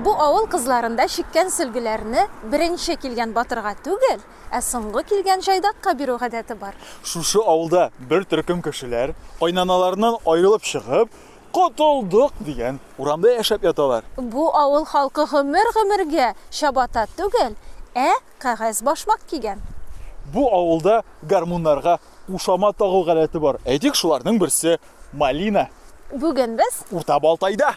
Бу авыл кызларында чиккән сөлгеләрне беренче килгән батырга түгел, ә соңгы килгән җайдакка бирү гадәте бар. Шушы авылда бер төркем кешеләр, кайнаналарыннан аерылып чыгып, котылдык дигән урамда яшәп яталар. Бу авыл халкы гомер-гомергә чабата түгел, ә кәгазь башмак кигән. Бу авылда гармуннарга кушама тагу гадәте бар. Әйтик, шуларның берсе малина. Бүген без Урта Балтайда.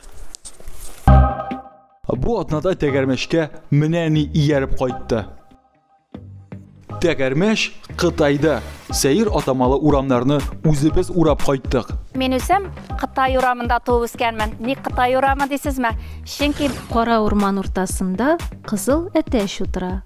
Бу атнада тәгәрмәшкә менә ни ияреп кайтты. Тәгәрмәш Кытайда сәер атамалы урамнарны үзебез урап кайттык. Мин үзем Кытай урамында туып үскәнмен. Ник Кытай урамы дисезме? Чөнки кара урман уртасында кызыл әтәч утыра.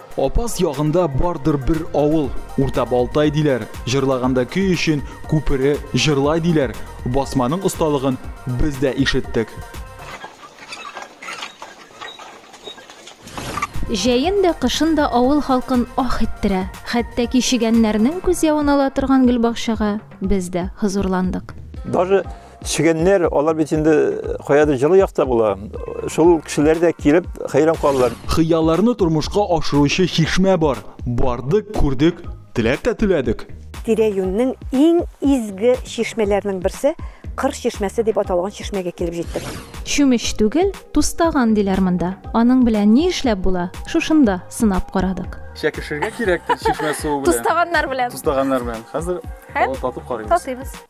Апас ягында бардыр бер авыл, Урта Балтай диләр. Җырлаганда көй өчен күпере җырлай диләр. Басманың осталыгын без дә ишеттек. Җәен дә, кышын да авыл халкын ах иттерә. Хәтта кичегәннәрнең күз явын ала торган гөлбакчага без дә хозурландык. Даже Чегәннәр, алар бит инде каядыр җылы якта була. Шул кешеләр дә килеп хәйран калалар. Хыялларны тормышка ашыручы чишмә бар. Бардык, күрдек, теләк тә түләдек. Тирә-юньнең иң изге чишмәләренең берсе, Кыр чишмәсе дип аталган чишмәгә килеп җиттек. Чүмеч түгел, тустаган диләр монда. Аның белән ни эшләп була, шушында сынап карадык. Чәкешергә кирәктер чишмә суы белән. Тустаганнар белән. Тустаганнар белән. Хәзер Һәм? татып карыйбыз. Татыйбыз.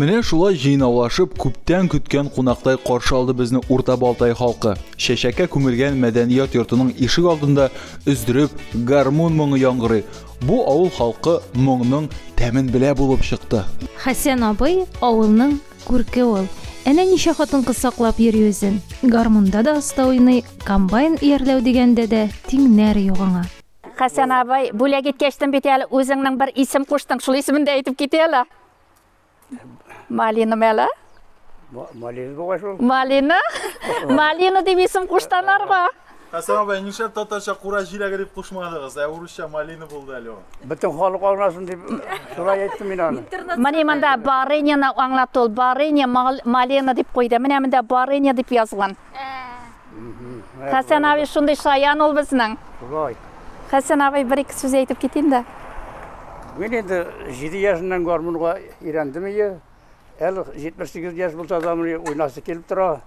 Менә шулай җыйнаулашып, күптән көткән кунактай каршы алды безне Урта Балтай халкы. Чәчәккә күмелгән мәдәният йортының ишек алдында өздереп гармун моңы яңгырый. Бу авыл халкы моңның тәмен белә булып чыкты. Хәсән абый авылның Күрке ул. Әнә ничә хатын-кыз саклап йөри үзен. Гармунда да оста уйный, комбайн иярләү дигәндә дә тиңнәр юк аңа. Хәсән абый, бүләк иткәч тын бит әле, үзеңнең бер исем куштың, шул исемен дә әйтеп кит әле. Малина мәле? Малина бугай шул. Малина? Малина дип исем куштанарга. Хәсән абый, нишләп татарча кура җиләге дип кушмадыгыз, ә урысча малина булды әле ул? Бөтен халык аңласын дип шулай әйттем мин аны. Менә монда барыняны аңлатты ул. Барыня мал- малина дип куйды. Менә монда барыня дип язган. Хәсән абый шундый шаян ул безнең. Шулай. Хәсән абый бер-ике сүз әйтеп китим дә. Мин инде җиде яшеннән гармунга өйрәндем ие. Әле 78 яшь булса да, мени уйнасы килеп тора.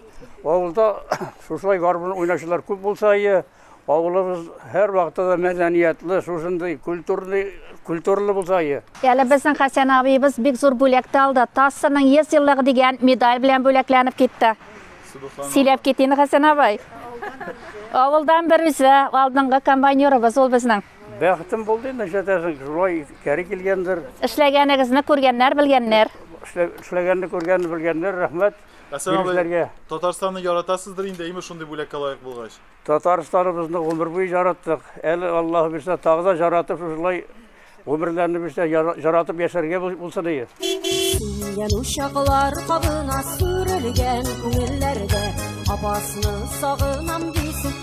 Авылда шушылай гармун уйнаучылар күп булса, е, авылыбыз һәр вакытта да мәдәниятле, шушындый культурный, культуралы булса, е. Әле безнең Хәсән абыебыз бик зур бүләкте алды. ТАССның 100 еллыгы дигән медаль белән бүләкләнеп китте. Сөйләп китин, Хәсән абый. Авылдан бер үзе алдынгы комбайнерыбыз ул безнең. Бәхетем булды инде, нишләтәсең, шулай кәри килгәндер. Эшләгәнегезне күргәннәр, белгәннәр. Эшләгәнне күргәнне белгәннәр, рәхмәт. Әсәнәбезләргә. Татарстанны яратасыздыр инде, әйме шундый бүләккә лаек булгач? Татарстаныбызны гомер буе яраттык. Әле Аллаһ бирсә, тагы да яратып шулай гомерләрне бирсә, яратып яшәргә булсын ие. Сүнгән учаклар кабына сүрелгән күңелләрдә апасны сагынам дисен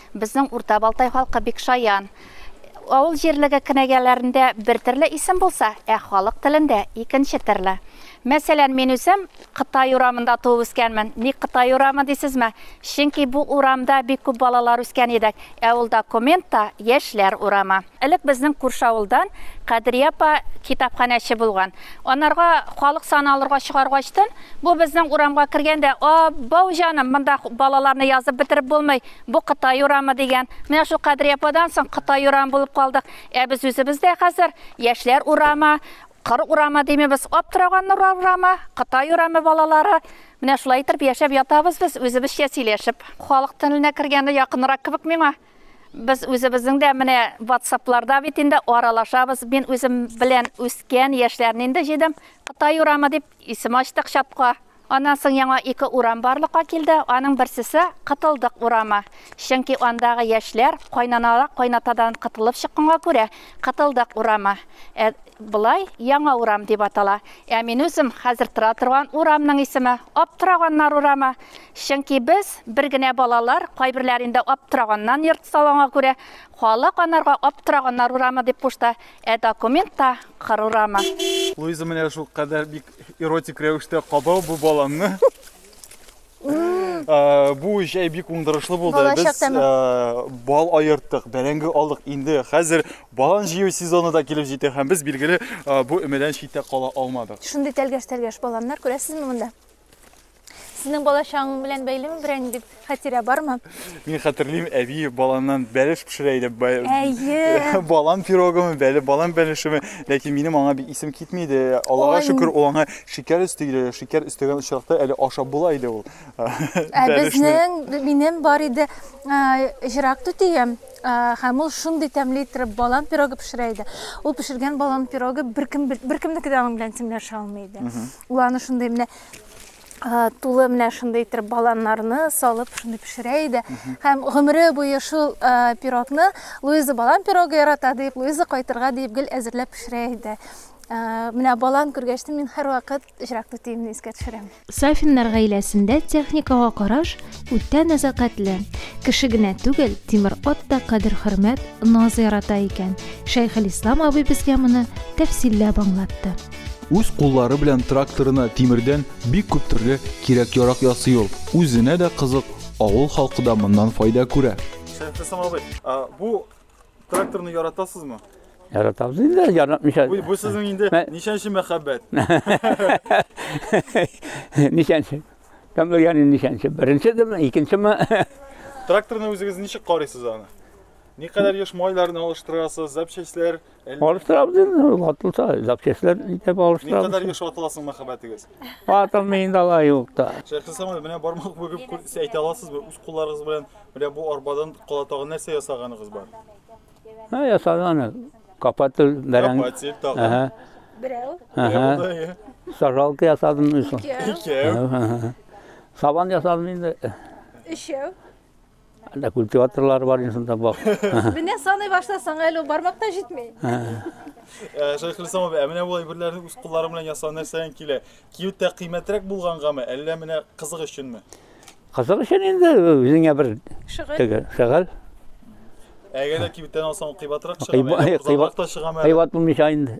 Безнең Урта Балтай халкы бик шаян. Авыл җирлеге кенәгәләрендә бер терле исем булса, ә халык телендә икенче терле. Мәсәлән, мин үзем Кытай урамында туып үскәнмен. Ник Кытай урамы дисезме? Чөнки бу урамда бик күп балалар үскән идек, ә ул документ та Яшьләр урамы. Элек безнең күрше авылдан Кадрия апа китапханәче булган. Анарга халык саны алырга чыгаргачтын, бу безнең урамга кергәндә, Аббау җаным, монда балаларны язып бетереп булмый, Бу Кытай урамы дигән. Менә шул Кадрия ападан соң Кытай урамы булып калдык. Ә без үзебез дә хәзер яшьләр урамы, кыр урамы димибез, аптыраганнар урамы, Кытай урамы балалары. Менә шулай итеп яшәп ятабыз без үзебезчә сөйләшеп. Халык теленә кергәне якынрак кебек миңа. Без үзебезнең дә менә WhatsApp-ларда бит инде аралашабыз. Мин үзем белән үскән яшьләрне инде җыйдым. Кытай урамы дип исем ачтык чатка. Аннан соң яңа ике урам барлыкка килде, аның берсесе, Кытылдык урамы. Чөнки андагы яшьләр кайнаналар кайнатадан кытылып чыкканга күрә, Кытылдык урамы. Ә болай яңа урам дип атала. Ә мин үзем хәзер тора торган урамның исеме, Аптыраганнар урамы. Чөнки без, бер генә балалар, кайберләр инде Аптыраганнан йорт салганга күрә, халык анарга Аптыраганнар урамы дип кушты, ә документта, Кыр урамы. Луиза менә шулкадәр бик Эротик рәвештә кабау бу баланны. Э, бу җәй бик уңдырышлы булды. Без э, бал аерттык, бәрәңге алдык. Инде хәзер балан җыю сезоны да килеп җитә һәм без билгеле э, бу өмәдән читтә кала алмадык. Шундый тәлгәш-тәлгәш баланнар күрәсезме монда? Сезнең балачагың белән бәйлеме берәр ниндидь хатирә бармы? Мин хәтерлим, әби баланнан бәлеш пешерә иде. Әйе. Балан пирогымы, бәле балан бәлешеме. Ләкин минем аңа бик исем китми иде. Аллага шөкер, ул аңа шикәр өсти иде. Шикәр өстәгән очракта әле ашап була иде ул. Ә безнең, минем бар иде җырак түтием. Һәм ул шундый тәмле иттереп балан пирогы пешерә иде. Ул пешергән балан пирогы беркем беркемнеке дә аның белән тиңләшә алмый иде. Ул аны шундый менә тулы менә шундый итеп баланнарны салып шундый пешерә иде һәм гомере буе шул пирогны луиза балан пирогы ярата дип луиза кайтырга дип гел әзерләп пешерә иде менә балан күргәч мин һәрвакыт җырак түтиемне искә төшерәм сафиннар гаиләсендә техникага караш үтә нәзакәтле кеше генә түгел тимер ат та кадер хөрмәт наз ярата икән шәйхелислам абый безгә моны тәфсилләп аңлатты Үз куллары белән тракторына тимердән бик күп төрле кирәк-ярак ясый ул. Үзенә дә кызык, авыл халкы да моннан файда күрә. Сәләтлесем абый, бу тракторны яратасызмы? Яратабыз инде, яратмыйча. Бу, бу сезнең инде ничәнче мәхәббәт? Ничәнче? Кем белгән инде ничәнче? Беренчедеме, икенчеме? Тракторны үзегез ничек карыйсыз аны? Никадәр еш майларны алыштырасыз, запчастьләр Алыштырабыз инде, ватылса, запчастьләр итеп алыштырабыз. Ни кадәр еш ватыласың мәхәббәтегез? Ватылмый инде алай юк та. Шәйхи Самай, менә бармак бүгеп әйтә аласызбы? Үз кулларыгыз белән менә бу арбадан кала тагын нәрсә ясаганыгыз бар? Һә, ясаганы. Капатель, бәрәң. Капатель тагын. Әһә. Берәү. Әһә. Сажалка ясадым мисал. Икәү. Сабан ясадым инде. Өчәү. Әллә культиваторлары бар инде шунда бак. Менә саный башласаң әле ул бармакта җитми. Э, Шәйх Хилсам абый, ә менә бу әйберләрне үз куллары белән ясау нәрсәдән килә? Киюттә кыйммәтрәк булгангамы, әллә менә кызык өченме? Кызык өчен инде үзеңә бер Шөгыль. теге шәгал. Әгәр дә кибеттән алсаң, ул кыйбатрак чыгамы? Кыйба- әллә кыйба- кызарак та чыгамы? әллә? Кыйбат булмыйча инде.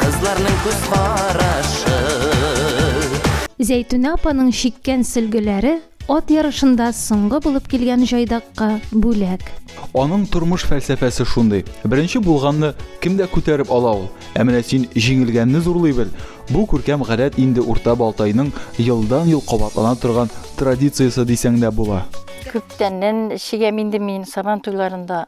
Кызларның күз карашы. Зәйтүнә апаның чиккән сөлгеләре ат ярышында соңгы булып килгән җайдакка бүләк. Аның тормыш фәлсәфәсе шундый. Беренче булганны кем дә күтәреп ала ул. Ә менә син җиңелгәнне зурлый бел. Бу күркәм гадәт инде Урта Балтайның елдан-ел кабатлана торган традициясе дисәң дә була. Күптәннән чигәм инде мин Сабан туйларында.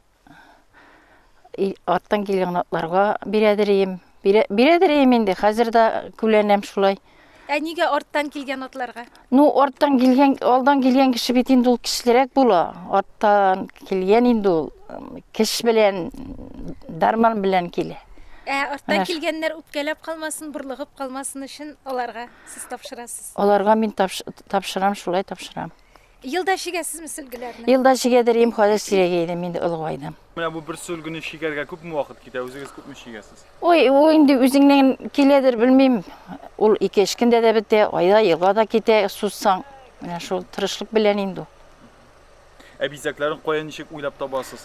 Арттан килгән атларга бирәдерим. Бирәдерим инде, хәзер дә күләнәм шулай. Ә нигә арттан килгән атларга? Ну, арттан килгән, алдан килгән кеше бит инде ул кешелерәк була. Арттан килгән инде ул кеш белән, дарман белән килә. Ә арттан килгәннәр үпкәләп калмасын, бурлыгып калмасын өчен аларга сез тапшырасыз. Аларга мин тапшырам, шулай тапшырам. Елда чигәсезме сөлгеләрне? Елда чигәдер им, хәзер сирәгәй идем, инде олыгайдым. Менә бу бер сөлгене чигәргә күпме вакыт китә? Үзегез күпме чигәсез? Ой, ул инде үзеңнән киләдер, белмим. Ул ике эш көндә дә бетә, айда, елга да китә, сузсаң. Менә шул тырышлык белән инде. Ә бизәкләрен кая ничек уйлап табасыз?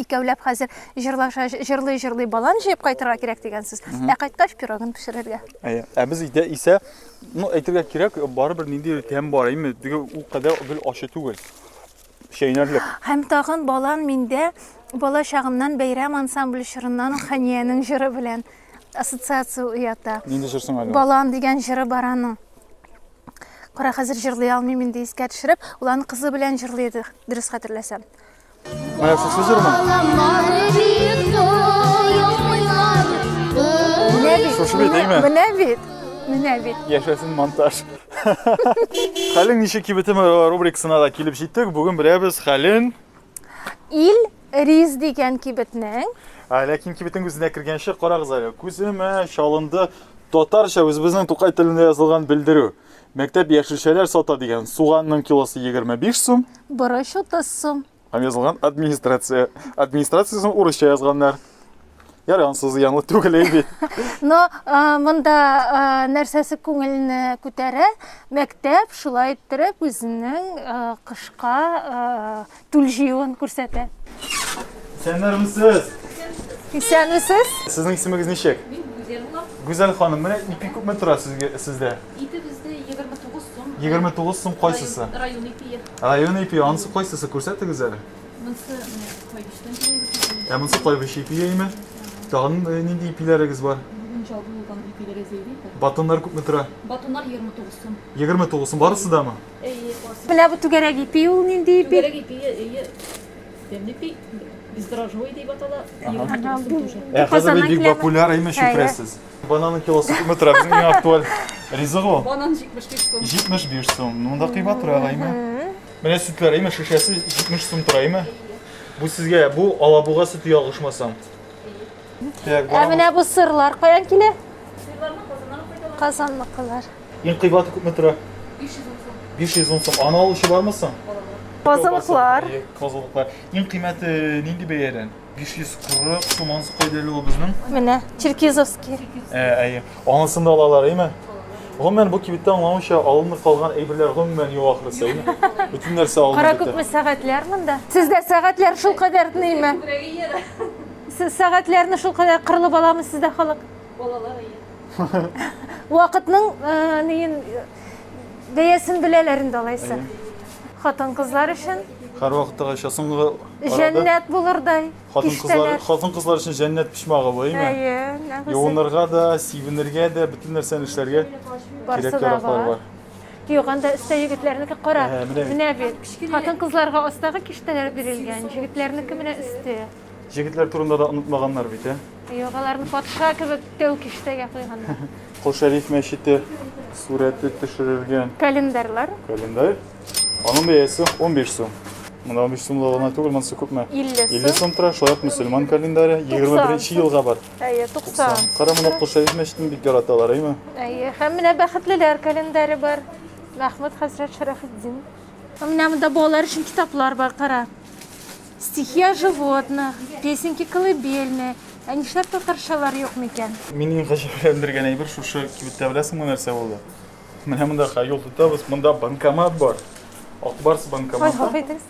Икәүләп хәзер җырлаша җырлый җырлый балан җыеп кайтырга кирәк дигән сүз. Ә кайткач пирогын пешерергә. Әйе. Ә без өйдә исә, ну әйтергә кирәк, барыбер нинди тәм бар, әйме, теге ул кадәр гел ачы түгел. Чәйнәрлек. Һәм тагын балан миндә бала чагымнан бәйрәм ансамбль чорыннан Ханиянең җыры белән ассоциация уята. Нинди җыр соң әле? Балан дигән җыры бар аның. Кара, хәзер җырлый алмыйм инде искә төшереп, ул аны кызы белән җырлый иде, дөрес хәтерләсәм. Моя сусыз җырмы? Шушы бит, әйме? Менә бит. Менә бит. Яшәсен монтаж. Хәлең ничек кибетем рубрикасына да килеп җиттек. Бүген беләбез хәлен. Ил Риз дигән кибетнең. Ләкин кибетнең үзенә кергәнче карагыз әле. Күземә чалынды татарча үзебезнең Тукай телендә язылган белдерү. Мәктәп яшелчәләр сата дигән суганның килосы 25 сум. Борыч 30 сум. Һәм язылган администрация. Администрациясен урысча язганнар. Ярый, ансы зыянлы түгел бит. Но монда нәрсәсе күңелне күтәрә? Мәктәп шулай иттереп үзенең кышка түл җыюын күрсәтә. Исәннәрмесез! Исәнмесез! Сезнең исемегез ничек? Мин Гүзәл булам. Гүзәл ханым, менә ипи күпме тора сезгә сездә? Ипи бездә 29 сум. 29 сум кайсысы? Район ипие. Район ипие, анысы кайсысы? Күрсәтегез әле. Монысы кайбыштан килгән. Ә монысы кайбыш ипие име? Тагын э, нинди ипиләрегез бар? Бүген чалгы булган ипиләре зәйли. Батоннар күпме тора? Батоннар 29 сум. 29 сум барысы да мы? Менә бу түгәрәк ипи ул нинди ипи? Түгәрәк ипи, ие. Темный ипи, бездрожжевый дип атала. Ә хәзер бит бик популяр имеш, шөкрәсез. Бананның килосы күпме тора? Безнең иң актуаль ризык ул. Банан 75 сум. 75 сум. Монда кыйбат тора, әйме? Менә сөтләр, әйме, шешәсе 70 сум тора, әйме? Бу сезгә, бу алабуга сөте ялгышмасам. Ә менә бу сырлар каян килә? Сырларны Казаннан кайталар. Казанныкылар. Иң кыйбаты күпме тора? 500 сум. 500 сум. Аны алучы бармы соң? Козылыклар. Козылыклар. Иң кыйммәте нинди бәядән? 540 сум анысы кайда әле ул безнең? Менә Черкизовский. Ә, әйе. Анысында алалар, әйме? Гомумән бу кибеттә аңлавымча алынып калган әйберләр гомумән юк ахрысы, әйме? Бөтен нәрсә алынып. Кара күпме сәгатьләр монда? Сездә сәгатьләр шул кадәр тныймы? Сез сәгатьләрне шул кадәр кырылып аламы сездә халык? Балалар әйе. Вакытның э, неен э, бәясен беләләр инде алайса. Хатын-кызлар өчен Һәрвакыттагы аша соңгы арада җәннәт булырдай хатын кызлар киштәләр. хатын кызлар өчен җәннәт почмагы бу, әйме? Әйе, нәгүзе. Юынырга да, сибенергә дә, бөтен нәрсәне эшләргә Барсы кирәк да яраклар бар. бар. Юк, анда өстә егетләрнеке кара. Ә, менә бит. Менә бит. Хатын-кызларга астагы киштәләр бирелгән, җегетләрнеке менә өсте. Җегетләр турында да онытмаганнар бит, ә? Юк, аларны патша кебек тәү киштәгә куйганнар. Кол Шәриф мәчете сурәте төшерелгән. Календарьлар. Календарь. Аның бәясе 15 сум. Монда 15 сумлы гына түгел, монысы күпме? 50 сум. 50 сум тора, шулай ук мөселман календаре 21 елга бар. Әйе, 90. Кара моны Кол Шәриф мәчетен бик яраталар, әйме? Әйе, һәм менә бәхетлеләр календаре бар. Мәхмүд хәзрәт Шәрәфетдин. Менә монда балалар өчен китаплар бар, кара. Стихия животных, песенки колыбельные, ә нишләп татарчалар юк микән? Мине гаҗәпләндергән әйбер шушы кибеттә беләсеңме нәрсә булды? Менә монда ха юл тотабыз, монда банкомат бар. Акбарс банкоматы. Ой,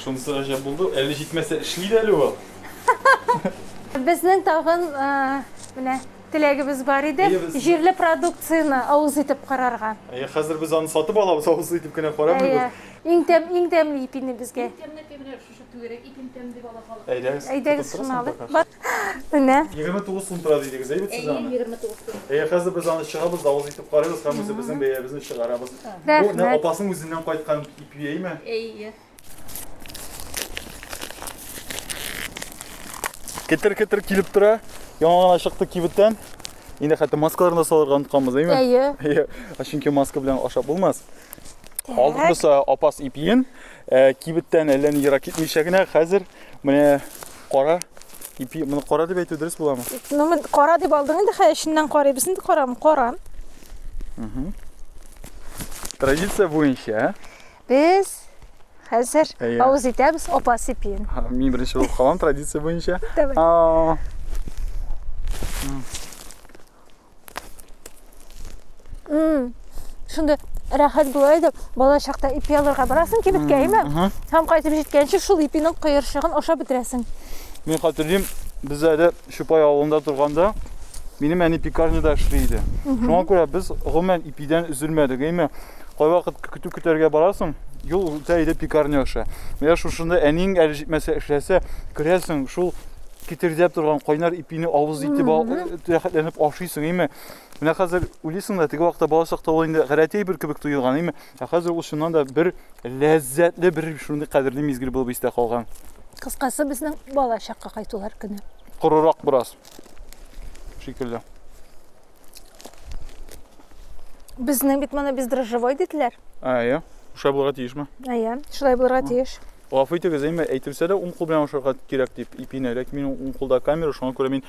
Шунысы гаҗәп булды. Әле җитмәсә эшли дә әле ул. Безнең тагын менә теләгебез бар иде. Җирле продукцияне авыз итеп карарга. Әйе, хәзер без аны сатып алабыз, авыз итеп кенә карамыйбыз. Иң тәм, иң тәмле ипине безгә. Иң тәмле ипи менә шушы түгәрәк ипин тәм дип ала халык. Әйдәгез. Әйдәгез шуны алып. Бар. Менә. 29 сум тора дидегез, әйбәт сез аны. Әйе, 29 сум. Әйе, хәзер без аны чыгабыз, давыз итеп карыйбыз һәм үзебезнең бәябезне чыгарабыз. Бу менә апасының үзеннән кайткан ипи, әйеме? Әйе. Кетер-кетер килеп тора. Яңа гына чыкты кибеттән. Инде хәтта маскаларны салырга онытканбыз, әйеме? Әйе. Әйе. Чөнки маска белән ашап булмас. Алдымызда апас ипиен, э, кибеттән әллә ни ерак китмичә генә хәзер менә кара ипи, моны кара дип әйтү дөрес буламы? Ну, мен кара дип алдың инде, хәй эченнән карыйбыз инде карам, каран. Традиция буенча, ә? Без хәзер Әйе. авыз итәбез апас ипиен. Ха, Мин беренче булып калам традиция буенча. Давай. А, шундай рәхәт була иде бала чакта ипи алырга барасың кибеткәме һәм кайтып җиткәнче шул ипинең кыерчыгын ашап бетерәсең мин хәтерлим без әле чупай авылында торганда минем әни пекарняда эшли иде шуңа күрә без гомумән ипидән өзелмәдек әйме кайвакыт көтү көтәргә барасың юл үтә иде пекарня аша менә шушында әниң әле җитмәсә эшләсә керәсең шул Китердәп торган кайнар ипине авыз итеп рәхәтләнеп ашыйсың, әйме. Менә хәзер үлисең да, теге вакытта бала чакта ул инде гадәти әйбер кебек тоелган, әйме. Ә хәзер ул чыннан да бер ләззәтле, бер шундый кадерле мизгел булып истә калган. Кыскасы, безнең бала чакка кайтулар көне. Корырак бераз. Шикелле. Безнең бит моны бездрожжевой диделәр. Әйе. Шулай булырга тиешме? Әйе, шулай булырга тиеш. Гафу итегез, әмма әйтелсә дә уң кул белән ашарга кирәк дип ипине, ләкин минем уң кулда камера, шуңа күрә мин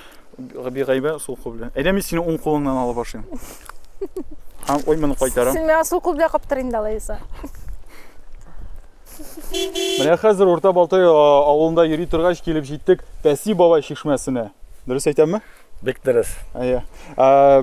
бигайбә сул кул белән. Әйдә мин сине уң кулыңнан алып ашыйм. Һәм ой моны кайтарам. Син миңа сул кул белән каптыр инде алайса. Менә хәзер Урта Балтай авылында йөри торгач килеп җиттек Пәси бабай чишмәсенә. Дөрес әйтәмме? Бик дөрес. Әйе.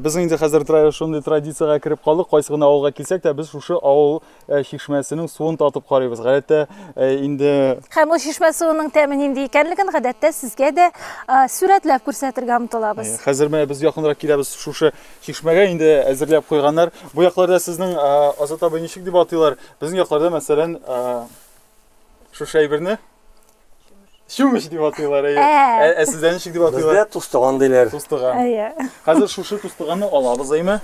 Без инде хәзер шундый традициягә кереп калдык, кайсы гына авылга килсәк тә, без шушы авыл Э, чишмәсенең суын татып карыйбыз гадәттә э, инде һәм ул чишмә суының тәме нинди икәнлеген гадәттә сезгә дә э, сурәтләп күрсәтергә омтылабыз хәзер менә без якынрак киләбез шушы чишмәгә инде әзерләп куйганнар бу якларда сезнең азат абый ничек дип атыйлар безнең якларда мәсәлән Шушы әйберне чүмеч дип атыйлар, әйе. Ә. Ә, ә сездә ничек дип атыйлар? Бездә тустыган диләр. Тустыган. Әйе. Хәзер шушы тустыганны алабыз, әйме?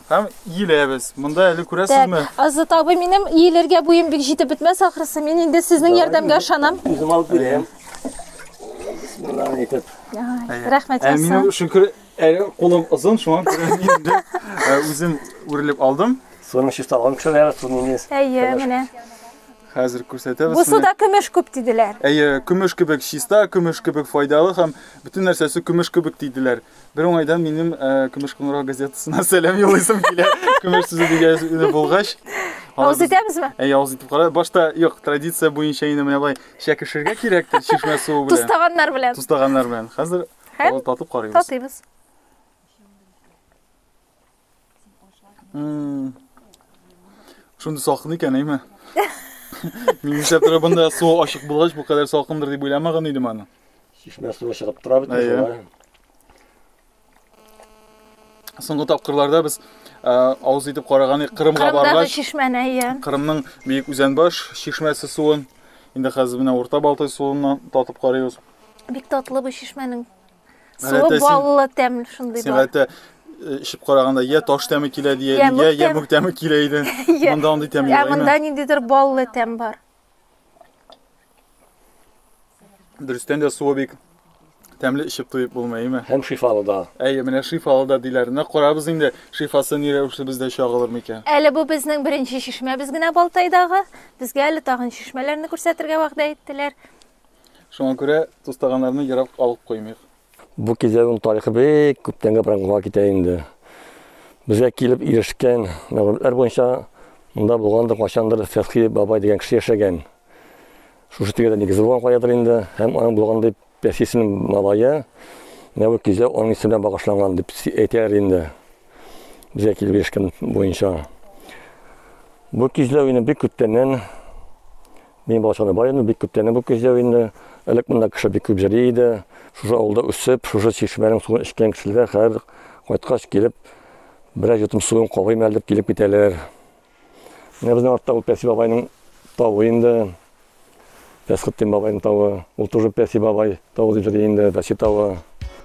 Һәм иеләбез. Монда әле күрәсезме? Так, Азат абый, минем иелергә буем бик җитеп бетмәс ахрысы. Мин инде сезнең ярдәмгә ышанам. Үзем алып бирәм. Бисмиллаһ әйтеп. Ай, Рәхмәт Ә минем ясагыз. шөкер әле кулым озын, шуңа күрә мин инде ә, үзем үрелеп алдым. Суны чиста алган кешеләр, суны инде. Әйе, менә. Хәзер күрсәтәбез. Бу суда көмеш күп диделәр. Әйе, көмеш кебек чиста, көмеш кебек файдалы һәм бөтен нәрсәсе көмеш кебек диделәр. Бер уңайдан минем э, Көмеш кыңгырау газетасына сәлам юллыйсым килә. Көмеш сүзе дигән булгач. Авыз итәбезме? Әйе, авыз итеп кара. Башта юк, традиция буенча инде менә былай чәкешергә кирәктер чишмә суы белән. Тустаганнар белән. Тустаганнар белән. Хәзер татып карыйбыз. Татыйбыз. Шундый салкын икән, әйме? Мин нишләп тора бында су ачык булгач, бу кадәр салкындыр дип уйламаган идем аны. Чишмә суы чыгып тора бит шулай. Соңгы тапкырларда без авыз итеп караган идек Кырымга баргач. Чишмәне, иә. Кырымның бөек Үзәнбаш чишмәсе суын инде хәзер менә Урта Балтай суыннан татып карыйбыз. Бик татлы бу чишмәнең Суы баллы тәмле шундый бар. Сәгате эчеп караганда я таш тәме килә дия, я ямүк тәме килә иде. Монда андый тәм юк. Ә монда ниндидер баллы тәм бар. Дөрестән дә суы бик тәмле эчеп туеп булмый, әйме? Һәм шифалы да. Әйе, менә шифалы да диләр. Менә карабыз инде, шифасы ни рәвешле бездә чагылыр микән? Әле бу безнең беренче чишмәбез генә Балтайдагы. Безгә әле тагын чишмәләрне күрсәтергә вәгъдә иттеләр. Шуңа күрә тустаганнарны ерак алып куймыйк. Бу кизәгүнең тарихы бик күптәнгә праңгыга китә инде. Безгә килеп ирешкән мәгълүматлар буенча, монда булгандыр кайчандыр Фәтхи бабай дигән кеше яшәгән. Шушы тирәдә нигезе булган каядыр инде, һәм аның булган дип Пәхи исемле малае, менә бу кизәү аның исеменә багышланган дип әйтәләр инде. Безгә килеп ирешкән буенча. Бу кизләү инде бик күптәннән Мин балачакта бар идем, бик күптән бу көзәү инде. Элек монда кеше бик күп җыри иде. Шушы авылда үсеп, шушы чишмәнең суын эчкән кешеләр хәзер кайткач килеп, берәр йотым суын кабыйм әле дип килеп китәләр. Менә безнең артта ул Пәси бабайның тавы инде. Пәсхеттин бабайның тавы. Ул тоже Пәси бабай. Тау дип йөри инде, Дачи тавы.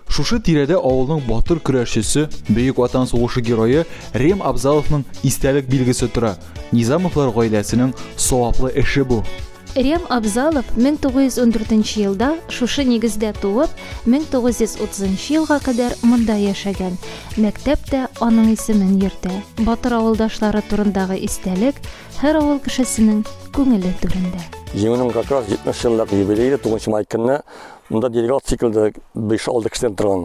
Шушы тирәдә авылның батыр көрәшчесе, Бөек Ватан сугышы герое Рем Абзаловның истәлек билгесе тора. Низамовлар гаиләсенең саваплы эше бу. Рем Абзалов 1914 елда шушы нигездә туып, 1930 елга кадәр монда яшәгән. Мәктәп тә аның исемен йөртә. Батыр авылдашлары турындагы истәлек, Һәр авыл кешесенең күңеле түрендә. Җиңүнең как раз 70 еллык юбилее 9 май көнне монда делегат циклда 5-6 кешедән торган.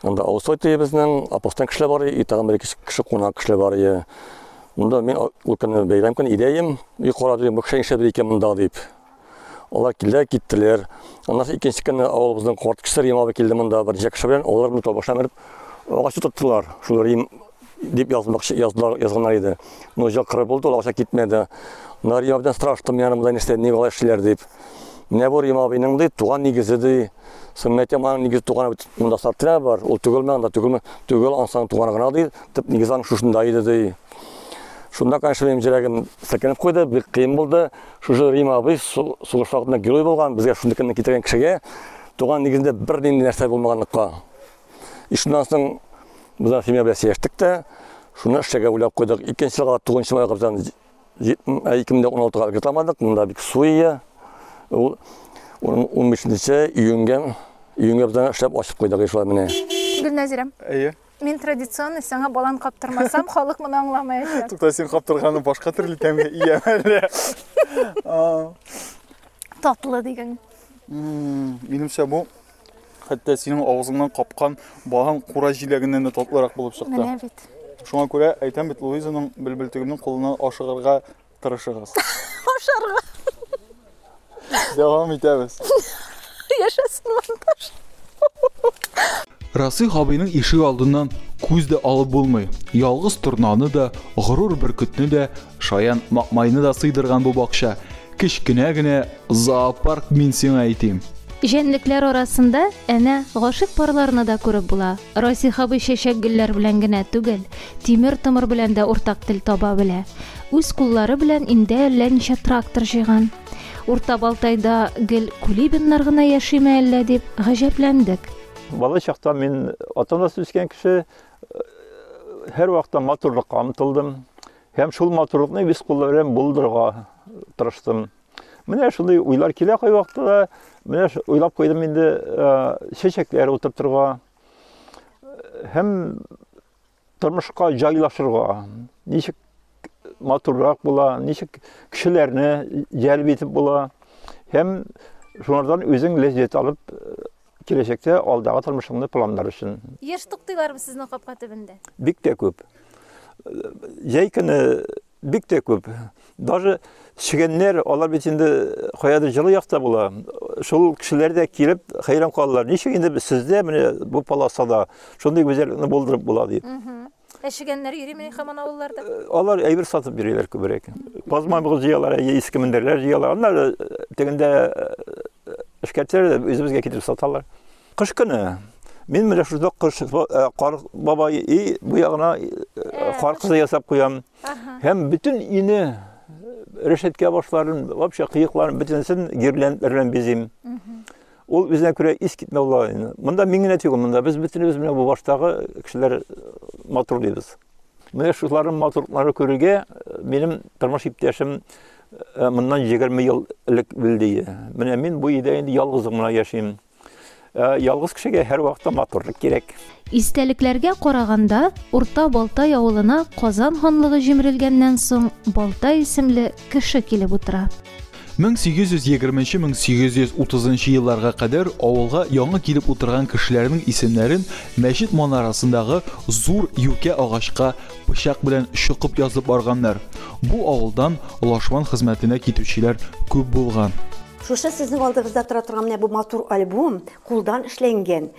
Анда Аусой төебезнең апостан кешеләр бар, и тагын бер кеше кунак кешеләр бар. Монда мин ул көнне бәйрәм көн идәем, и карадым, бу кеше нишләп икән монда дип. Алар килдер киттеләр. Аннан икенче көнне авылыбызның карт кеше Рим абый килде монда бер ничә кеше белән. Алар монда башлап менеп агач утырттылар. Шул Рим дип язмакчы язлар язганнар иде. Ну, җак кыры булды, ул акча китмәде. Менә Рим абыйдан сораштым, менә монда нәрсә, ник алай эшлиләр дип. Менә бу Рим абыйның ди, туган нигезе ди. Сөннәте моның нигез туганы бит монда сартря бар. Ул түгелме анда, түгелме? Түгел, ансаң туганы гына ди. Тып нигез аның шушында иде ди. Шунда, конечно, минем җөрәгем сәкенеп куйды, бик кыен булды. Шушы Рима абый сугыш вакытында герой булган, безгә шундый көнне китергән кешегә туган нигезендә бер нинди нәрсә булмаганлыкка. И шуннан соң без семья белән сөйләштек тә, шуны эшләргә уйлап куйдык. Икенче елга 9 майга бездән 2016-га өлгертамадык, монда бик суе. Ул 15 июньгә июньгә бездән эшләп ачып куйдык шулай менә. Гөлнәзирәм. Әйе. Мин традиционный саңа балан каптырмасам, халык моны аңламаячак. Тукта, син каптырганы башка төрле тәмгә ия әле. Татлы дигән. Минемчә бу хәтта синең авызыңнан капкан балан кура җиләгеннән дә татлырак булып чыкты. Менә бит. Шуңа күрә әйтәм бит, Луизаның белбелтегемнең кулына ашыгырга Тырышыгыз. Ашарга. Дәвам итәбез. Яшәсен монтаж. Расих абыйның ишек алдыннан күз дә алып булмый. Ялгыз торнаны да, горур бөркетне дә, шаян макмайны да сыйдырган бу бакча. Кечкенә генә зоопарк мин сиңа әйтим. Җәнлекләр арасында әнә гашыйк парларны да күреп була. Расих абый чәчәк-гөлләр белән генә түгел, тимер-томыр белән дә уртак тел таба белә. Үз куллары белән инде әллә ничә трактор җыйган. Урта Балтайда гел Кулибиннар гына яшиме әллә дип гаҗәпләндек. Бала чактан мин ата-анасыз үскән кеше, һәрвакытта матурлыкка омтылдым һәм шул матурлыкны үз кулларым белән булдырырга тырыштым. Менә шундый уйлар килә кай вакытта да. Менә уйлап куйдым инде чәчәкләр утыртырга һәм тормышка җайлашырга. Ничек матуррак була, ничек кешеләрне җәлеп итеп була һәм шулардан үзең ләззәт алып киләчәктә алдагы тормышыңны планлар өчен. Еш туктыйлармы сезнең капка төбендә? Бик тә күп. Җәй көне Бик тә күп. Даже чегәннәр, алар бит инде каядыр җылы якта була. Шул кешеләр дә килеп хәйран калалар. Ничек инде сездә менә бу полосада шундый гүзәллекне булдырып була дип. Ә чегәннәр йөрими хаман авылларда? Э, алар әйбер сатып йөриләр күбрәк. Казма бу җыялар, әйе, иске мендәрләр җыялар. Аннары э, тегендә э, эшкәртәләр, үзебезгә китереп саталар. Кыш көне. Мин менә шунда кыш кар бабай и бу ягына кар кызы ясап куям. Һәм бөтен өйне решетка башларын, вообще кыекларын бөтенесен гирляндалар белән бизим. Ул үзенә күрә ис китмәү лаен. Монда мин генә түгел, монда без бөтенебез менә бу баштагы кешеләр матур дибез. Менә шуларның матурлыклары күрергә минем тормыш иптәшем моннан 20 ел элек үлде. Менә мин бу өйдә инде ялгызым гына яшим. Э, ялгыз кешегә һәрвакытта матурлык кирәк. Истәлекләргә караганда, Урта Балтай авылына Казан ханлыгы җимерелгәннән соң Балтай исемле кеше килеп утыра. 1820-1830 елларга кадәр авылга яңа килеп утырган кешеләрнең исемнәрен мәчет манарасындагы зур юкә агачка пычак белән чокып язып барганнар. Бу авылдан лашман хезмәтенә китүчеләр күп булган. Шушы сезнең алдыгызда тора торган менә бу матур альбом, кулдан эшләнгән.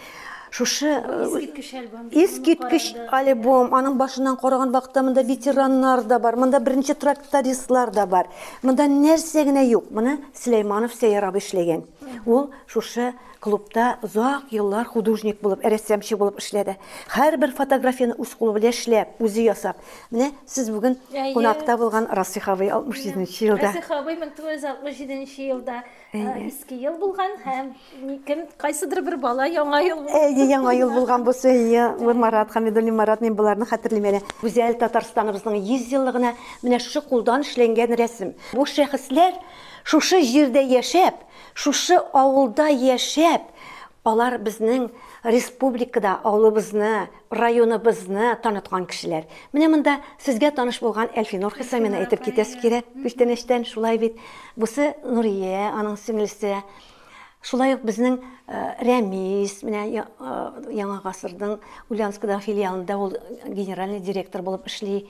Шушы э, искиткеч альбом. Искиткеч альбом. Аның башыннан караган вакытта монда ветераннар да бар, монда беренче трактористлар да бар. Монда нәрсә генә юк. Моны Сөләйманов Сәйяр абый эшләгән. Ул шушы клубта озак еллар художник булып, рәссамчы булып эшләде. Һәрбер фотографияне үз кулы белән эшләп, үзе ясап. Менә сез бүген кунакта булган Расих абый 67 нче елда. Расих абый 1967 нче елда Иске ел булган һәм кем кайсыдыр бер бала Яңа ел. Әйе, Яңа ел булган булса, әйе, Марат Хәмидуллин Марат, мин боларны хәтерлим әле. Гүзәл Татарстаныбызның 100 еллыгына менә шушы кулдан эшләнгән рәсем. Бу шәхесләр шушы җирдә яшәп, шушы авылда яшәп, алар безнең республикада авылыбызны, Районыбызны таныткан кешеләр. Менә монда сезгә таныш булган Әлфинур Хисамина әйтеп китәсе кирәк, күчтәнәчтән шулай бит. Бусы Нурия, аның сеңлесе. Шулай ук безнең э, Рәмис, менә э, Яңа гасырның Ульяновскадагы филиалында ул генеральный директор булып эшли.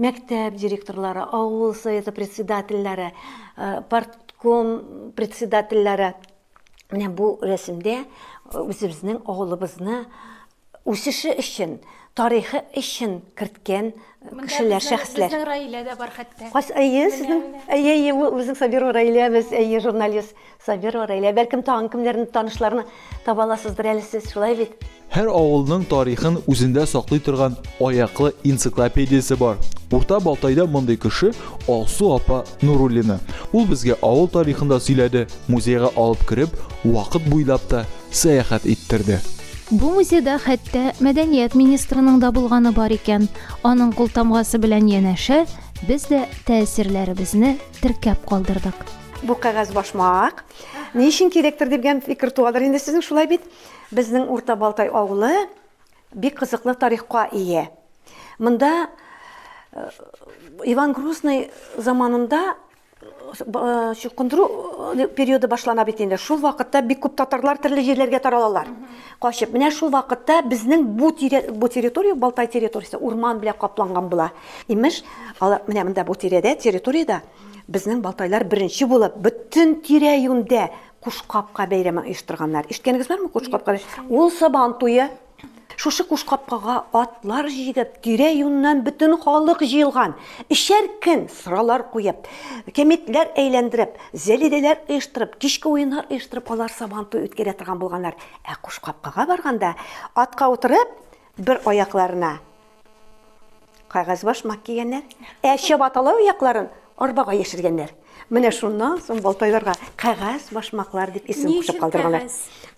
Мәктәп директорлары, авыл советы председательләре, э, партком председательләре, Менә бу рәсемдә үзебезнең авылыбызны үсеше өчен, тарихы өчен керткән кешеләр, шәхесләр. Безнең Раилә дә бар хәтта. Кас, әйе, сезнең, әйе, әйе, ул безнең Сабирова Раилә, без, әйе, журналист Сабирова Раилә. Бәлкем, тагын кемнәрне, танышларны таба аласыздыр әле сез, шулай бит? Һәр авылның тарихын үзендә саклый торган аяклы энциклопедиясе бар. Урта Балтайда мондый кеше Алсу апа Нуруллина. Ул безгә авыл тарихын да сөйләде, музейга алып кереп, вакыт буйлап та сәяхәт иттерде. Бу музейда хәтта мәдәният министрының да булганы бар икән. Аның култамгасы белән янәшә, без дә тәэсирләребезне теркәп калдырдык. Бу кәгазь башмак ни өчен кирәктер дигән фикер туадыр инде сезнең, шулай бит? Безнең Урта Балтай авылы бик кызыклы тарихка ие. Монда э, Иван Грозный заманында э, чукындыру э, периоды башлана бит инде. Шул вакытта бик күп татарлар төрле җирләргә таралалар. Качып, менә шул вакытта безнең бу тирә, бу территория Балтай территориясе урман белән капланган була. Имеш, алар менә монда бу тирәдә, территориядә безнең Балтайлар беренче булып бөтен тирә-юньдә Куш капка бәйрәмен оештырганнар. Ишеткәнегез бармы куш капка? Ул Сабан туе. Шушы куш капкага атлар җигеп, тирә-юньнән бөтен халык җыелган. Өчәр көн сыралар куеп, кәмитләр әйләндереп, зәлидәләр оештырып, кичке уеннар оештырып алар Сабан туй үткәрә торган булганнар. Ә куш капкага барганда, атка утырып, Бер аякларына кагазбаш мак кигәннәр, ә чабаталау аякларын арбага яшергәннәр. Менә шуннан соң балтайларга кагаз башмаклар дип исем кушып калдырганнар.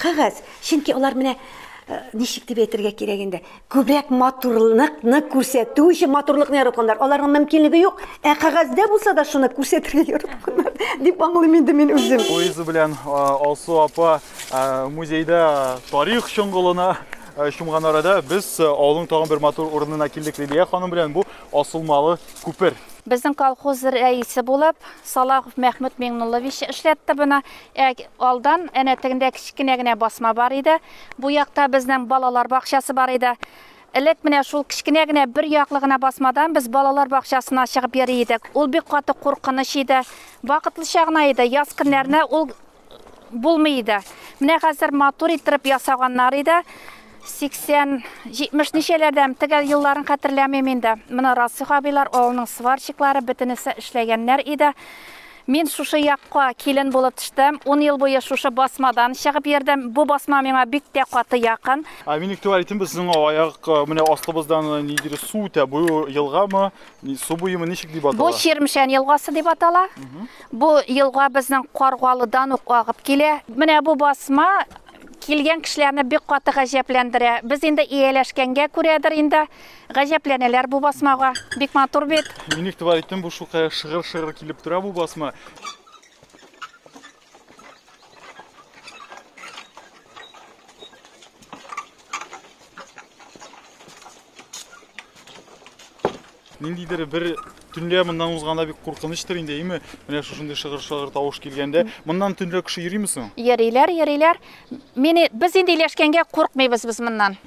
Кагаз, чөнки алар менә э, ничек дип әйтергә кирәк инде, күбрәк матурлыкны күрсәтү өчен матурлыкны яратканнар. Аларның мөмкинлеге юк, ә кагазьдә булса да шуны күрсәтергә яратканнар дип аңлыйм инде мин үзем. Луиза белән э, Алсу апа э, музейда тарих чоңгылына Э, чумган арада без э, авылның тагын бер матур урынына килдек Лилия ханым белән бу асылмалы күпер. Безнең колхоз рәисе булып Салахов Мәхмүт Миңнуллович эшләтте буны. Ә алдан әнә тегендә кечкенә генә басма бар иде. Бу якта безнең балалар бакчасы бар иде. Элек менә шул кечкенә генә бер яклы гына басмадан без балалар бакчасына чыгып йөри идек. Ул бик каты куркыныч иде. Вакытлыча гына иде. Яз көннәренә ул булмый иде. Менә хәзер матур иттереп ясаганнар иде. 80-70 ничәләрдән тегә елларын хәтерләмим инде. Менә Расих абыйлар, авылның сварщиклары бөтенесе эшләгәннәр иде. Мин шушы якка килен булып төштем. 10 ел буе шушы басмадан чыгып йөрдем. Бу басма миңа бик тә каты якын. Ә минек туалетен без сезнең аяк э, менә астыбыздан э, нидер су үтә. Бу елгамы, Су буемы ничек дип атала? Бу Чирмшән елгасы дип атала. Бу елга безнең Каргалыдан ук агып килә. Менә бу басма килгән кешеләрне бик каты гаҗәпләндерә. Без инде ияләшкәнгә күрәдер инде гаҗәпләнәләр бу басмага. Бик матур бит. Мин игътибар иттем, бу шулкадәр шыгыр-шыгыр килеп тора бу басма. ниндидер бер төнлә моннан узганда бик куркынычтыр инде әйме менә шушындый шыгыр шыгыр тавыш килгәндә моннан төнлә кеше йөрими соң йөриләр йөриләр мени без инде иләшкәнгә куркмыйбыз без моннан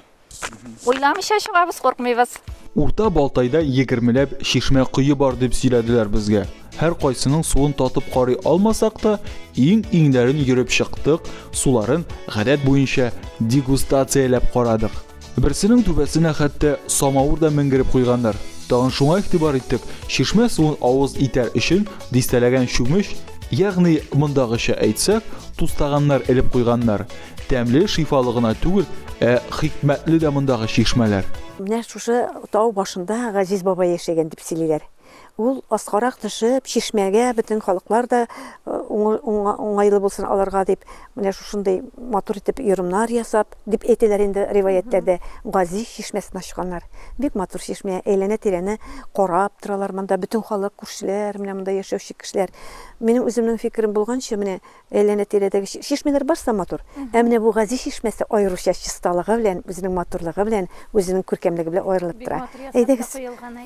Уйламыйча чыгабыз, куркмыйбыз. Урта Балтайда егермеләп чишмә кое бар дип сөйләделәр безгә. Һәр кайсының суын татып карый алмасак та, иң-иңнәрен йөреп чыктык, суларын гадәт буенча дегустацияләп карадык. Берсенең түбәсенә хәтта самавыр да менгереп куйганнар. Тагын шуңа игътибар иттек, чишмә суын авыз итәр өчен дистәләгән чүмеч, ягъни, мондагыча әйтсәк, тустаганнар элеп куйганнар. Тәмле, шифалы гына түгел, ә хикмәтле дә мондагы чишмәләр. Менә шушы тау башында Газиз бабай яшәгән дип сөйлиләр. Ул аскарак төшеп, чишмәгә бөтен халыклар да уңайлы булсын аларга дип, менә шушындый матур итеп йорымнар ясап, дип әйтәләр инде риваятьтәрдә, Газиз чишмәсен ачканнар. Бик матур чишмә, әйләнә-тирәне карап торалар монда бөтен халык, күршеләр, менә монда яшәүче кешеләр. Минем үземнең фикерем булганча, менә Әйләнә-тирәдәге чишмәләр барысы да матур. Ә менә бу Гази чишмәсе аеруча чисталыгы белән, үзенең матурлыгы белән, үзенең күркәмлеге белән аерылып тора. Әйдәгез,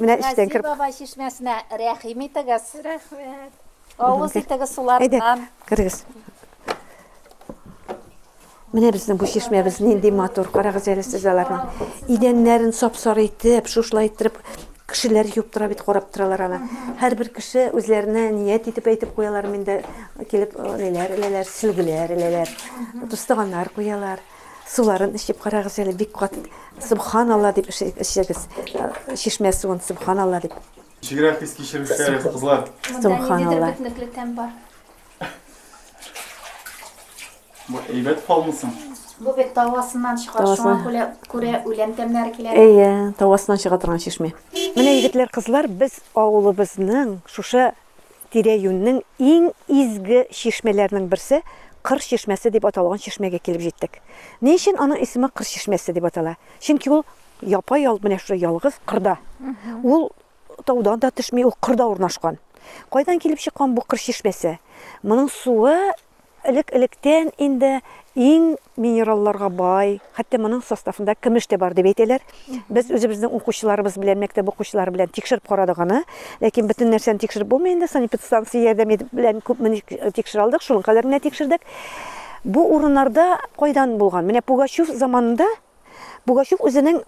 менә эчтән кереп. Гази бабай чишмәсенә рәхим итегез. Рәхмәт. Авыз итегез суларыннан. Әйдә, керегез. Менә безнең бу чишмәбез нинди матур, карагыз әле сез аларның. Идәннәрен сап-сары итеп, шушылай иттереп кешеләр юып тора бит, карап торалар аны. Һәрбер кеше үзләренә ният итеп әйтеп куялар, миндә килеп эләләр, эләләр, сөлгеләр, эләләр. Тустаганнар куялар. Суларын эчеп карагыз әле, бик кат. Субханалла дип эчегез. Чишмә суын субханалла дип. Чигрәк хис кичерүче кызлар. Субханалла. Монда нидер бетнекле тәм бар. Бу әйбәт фалмы соң? Бу бит тавасыннан чыга, Тавасыннан. шуңа күлә- күрә үлән тәмнәре килә. Әйе, тавасыннан чыга торган чишмә. Менә егетләр, кызлар, без авылыбызның шушы тирә-юньнең иң изге чишмәләренең берсе, Кыр чишмәсе дип аталган чишмәгә килеп җиттек. Ни өчен аның исеме Кыр чишмәсе дип атала? Чөнки ул япа-ял менә шушы ялгыз кырда. Ул таудан да төшми, ул кырда урнашкан. Кайдан килеп чыккан бу Кыр чишмәсе? Моның суы Элек-электән инде иң минералларга бай, хәтта моның составында көмеш тә бар дип әйтәләр. Без үзебезнең укучыларыбыз белән, мәктәп укучылары белән тикшереп карадык аны. Ләкин бөтен нәрсәне тикшереп булмый инде, санэпидстанция ярдәме белән күпме тикшерә алдык, шуның кадәрен генә тикшердек. Бу урыннарда кайдан булган? Менә Пугачев заманында Пугачев үзенең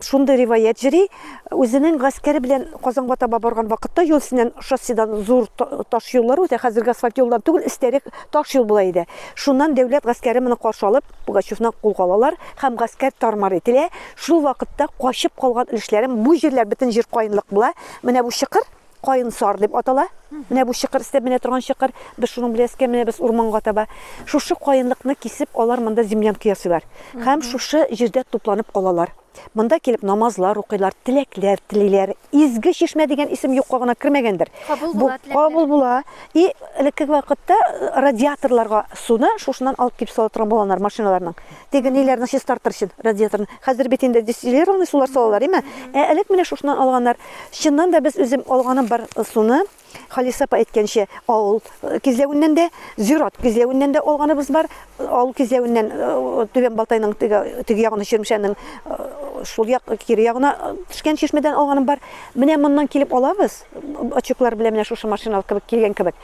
шундый риваять җыри, үзенең гаскәре белән Казанга таба барган вакытта юл өстеннән шосседан зур таш юллар үтә, хәзерге асфальт юлдан түгел, эстәрәк таш юл була иде. Шуннан дәүләт гаскәре моны каршы алып, Пугачевны кулга алалар һәм гаскәр тар-мар ителә. Шул вакытта качып калган өлешләрем, бу җирләр бөтен җир каенлык була, менә бу чокыр, Каен сар дип атала. Менә бу чыкыр истәп менә торган чыкыр. Без шуның белән искә менә без урманга таба. Шушы каенлыкны кисеп, алар монда землянка ясыйлар. Һәм шушы җирдә тупланып калалар. Монда килеп намазлар укыйлар, теләкләр телиләр. Изге чишмә дигән исем юкка гына кермәгәндер. Кабул була теләкләр. Кабул була. И элекке вакытта радиаторларга суны шушыннан алып килеп сала торган булганнар машиналарның. Теге ниләрне чистартыр өчен, радиаторны. Хәзер бит инде дистиллированный сулар салалар, име? Ә элек менә шушыннан алганнар. Чыннан да без үзем алганым бар э, суны, Халиса апа әйткәнчә, авыл э, кизләвеннән дә, зират кизләвеннән дә алганыбыз бар. Авыл кизләвеннән э, Түбән Балтайның теге, теге ягына Чирмешәннең шул як кире ягына төшкән чишмәдән алганым бар. Менә моннан килеп алабыз. Очуклар белән менә шушы машина кебек килгән кебек.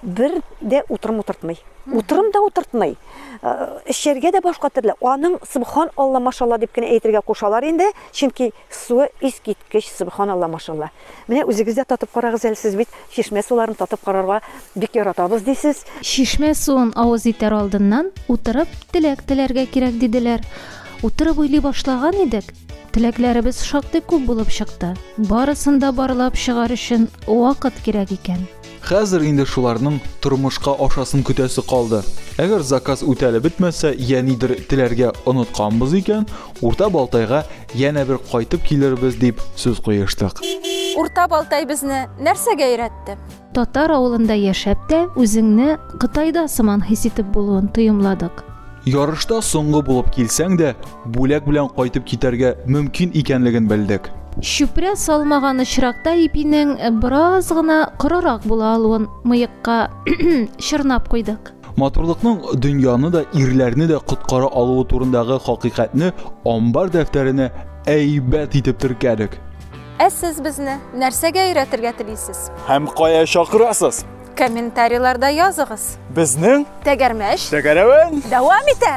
Бер дә утырым утыртмый. Утырым да утыртмый. Эчәргә дә башка төрле. Аның субхан Алла машалла дип кенә әйтергә кушалар инде, чөнки суы искиткеч субхан Алла машалла. Менә үзегез дә татып карагыз әле, сез бит чишмә суларын татып карарга бик яратабыз дисез. Чишмә суын авыз итәр алдыннан утырып теләк теләргә кирәк диделәр. Утырып уйлый башлаган идек, теләкләребез шактый күп булып чыкты. Барысын да барлап чыгар өчен вакыт кирәк икән. Хәзер инде шуларның тормышка ашасын көтәсе калды. Әгәр заказ үтәлеп бетмәсә, я нидер теләргә онытканбыз икән, Урта Балтайга янә бер кайтып килербез, дип сүз куештык. Урта Балтай безне нәрсәгә өйрәтте? Татар авылында яшәп тә үзеңне Кытайда сыман хис итеп булуын тоемладык. Ярышта соңгы булып килсәң дә, бүләк белән кайтып китәргә мөмкин икәнлеген белдек. Чүпрә салмаган очракта ипинең бераз гына корырак була алуын мыекка чорнап куйдык. Матурлыкның дөньяны да, ирләрне дә коткара алуы турындагы хакыйкатьне амбар дәфтәренә әйбәт итеп теркәдек. Ә сез безне нәрсәгә өйрәтергә телисез? Һәм кая чакырасыз? Комментарийларда языгыз. Безнең Тәгәрмәш. Тәгәрәвен. Дәвам итә.